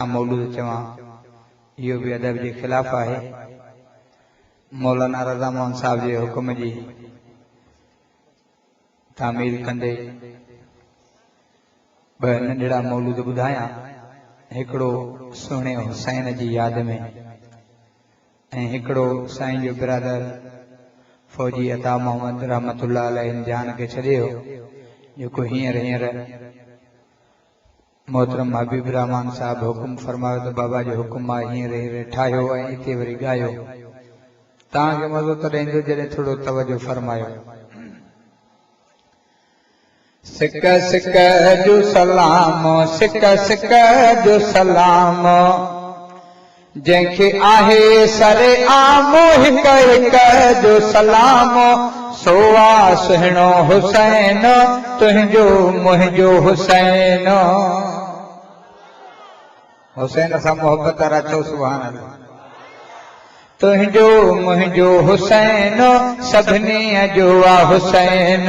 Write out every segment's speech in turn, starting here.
آء مولود چوان، اهو به ادب جي خلاف آهي. مولانا رضا موهن صاحب جي حڪم جي تعميل ڪندي ٻه ننڍڙا مولود ٻڌايان، هڪڙو سهڻي حسين جي ياد ۾ ۽ هڪڙو سائين جو برادر فوجي عطا محمد رحمت الله عليه ان جهان کي ڇڏي ويو، جيڪو هينئر هينئر محترم حبيب الرحمان صاحب حڪم فرمايو ته بابا جي حڪم مان هيئن رهي رهي ٺاهيو ۽ اتي وري ڳايو. توهان کي مزو تڏهن ايندو جڏهن ٿورو توجه فرمايو. سڪ سڪ جو سلام سڪ سڪ جو سلام جنهن کي آهي سر عام هڪ هڪ جو سلام سو آ سهڻو حسين تنهنجو منهنجو حسين. حسين سان محبت وارا چئو سبحان الله. تنهنجو منهنجو حسين سڀني جو آ حسين.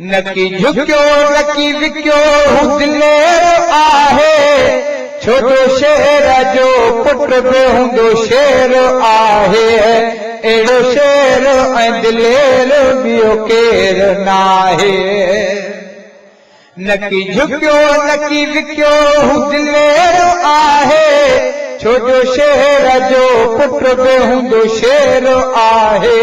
نڪي جهڪيو نڪي وڪيو هو دلير آهي ڇو جو شير جو پٽ به هوندو شير آهي اهڙو شير ۽ دلير ٻيو ڪير ناهي نڪي جهڪيو نڪي وڪيو هو دلير آهي ڇو جو شير جو پٽ به هوندو شير آهي.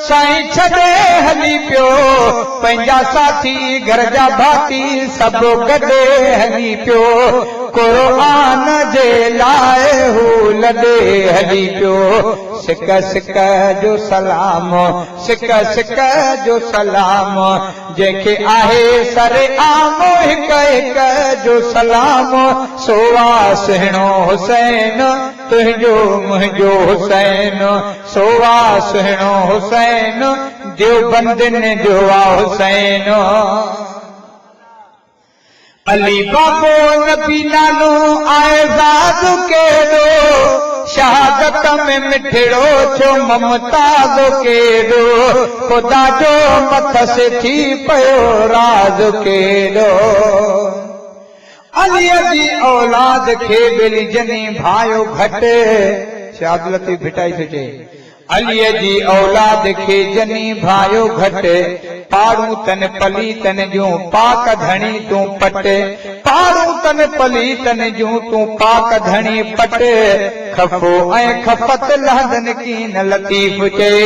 سائين ڇڏي هلي پيو پنهنجا ساٿي گهر جا ڀاتي سڀ گڏ هلي پيو قرآن جي لاء هو لڏي هلي پيو سڪ سڪ جو سلام سڪ سڪ جو سلام جنهن کي آهي سر عام هڪ هڪ جو سلام سو آ سهڻو حسين تنهنجو منهنجو حسين. سو آ سهڻو حسين، ديوبندين جو آ حسين. علي بابو نبي نالو آهي زاد ڪيڏو، شهادت ۾ مٺڙو ٿيو ممتاز ڪيڏو، خدا جو مٿس ٿي پيو راز ڪيڏو. عليء جي اولاد کي ٻيلي جني ڀانئيو گهٽ. شاهه عبداللطيف ڀٽائي ٿو چئي. عليء جي اولاد کي جني ڀانئيو گهٽ. پاڙون تن پليتن جون پاڪ ڌڻي تون پٽ. پاڙون تن پليتن جون تون پاڪ ڌڻي پٽ. خفو ۽ خفت لهندن ڪين لطيف چئي.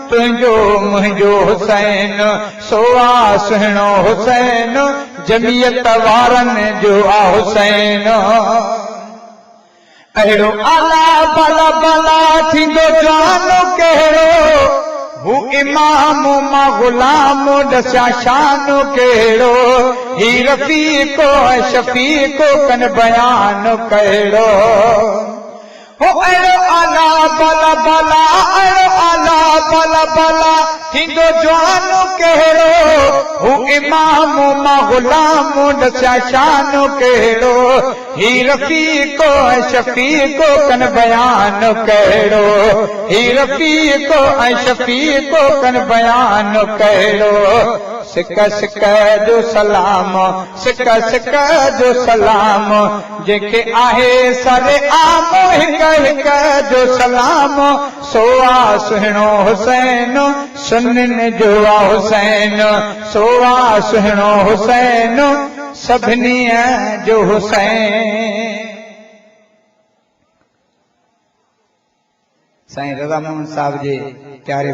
تنهنجو منهنجو حسين، سو آ سهڻو حسين، جميعت وارن جو آ حسين. اهڙو اعليٰ بالا بالا ٿيندو جوان ڪهڙو، هو امام مان غلام ڏسيان شان ڪهڙو، هي رفيق ۽ شفيق ڪن بيان ڪهڙو. هو اهڙو اعليٰ بالا بالا اهڙو اعليٰ بالا بالا ٿيندو جوان ڪهڙو هو امام مان غلام ڏسيا شان ڪهڙو هي رفيق ۽ شفيق ڪن بيان ڪهڙو هي رفيق ۽ شفيق ڪن بيان ڪهڙو سڪ سڪ جو سلام سڪ سڪ جو سلام جيڪي آهي سر عام هڪ هڪ جو سلام سو آ سهڻو حسين سنن جو آ حسين سو آ سهڻو حسين سڀني جو حسين. سائين رضا موهن صاحب جي پياري.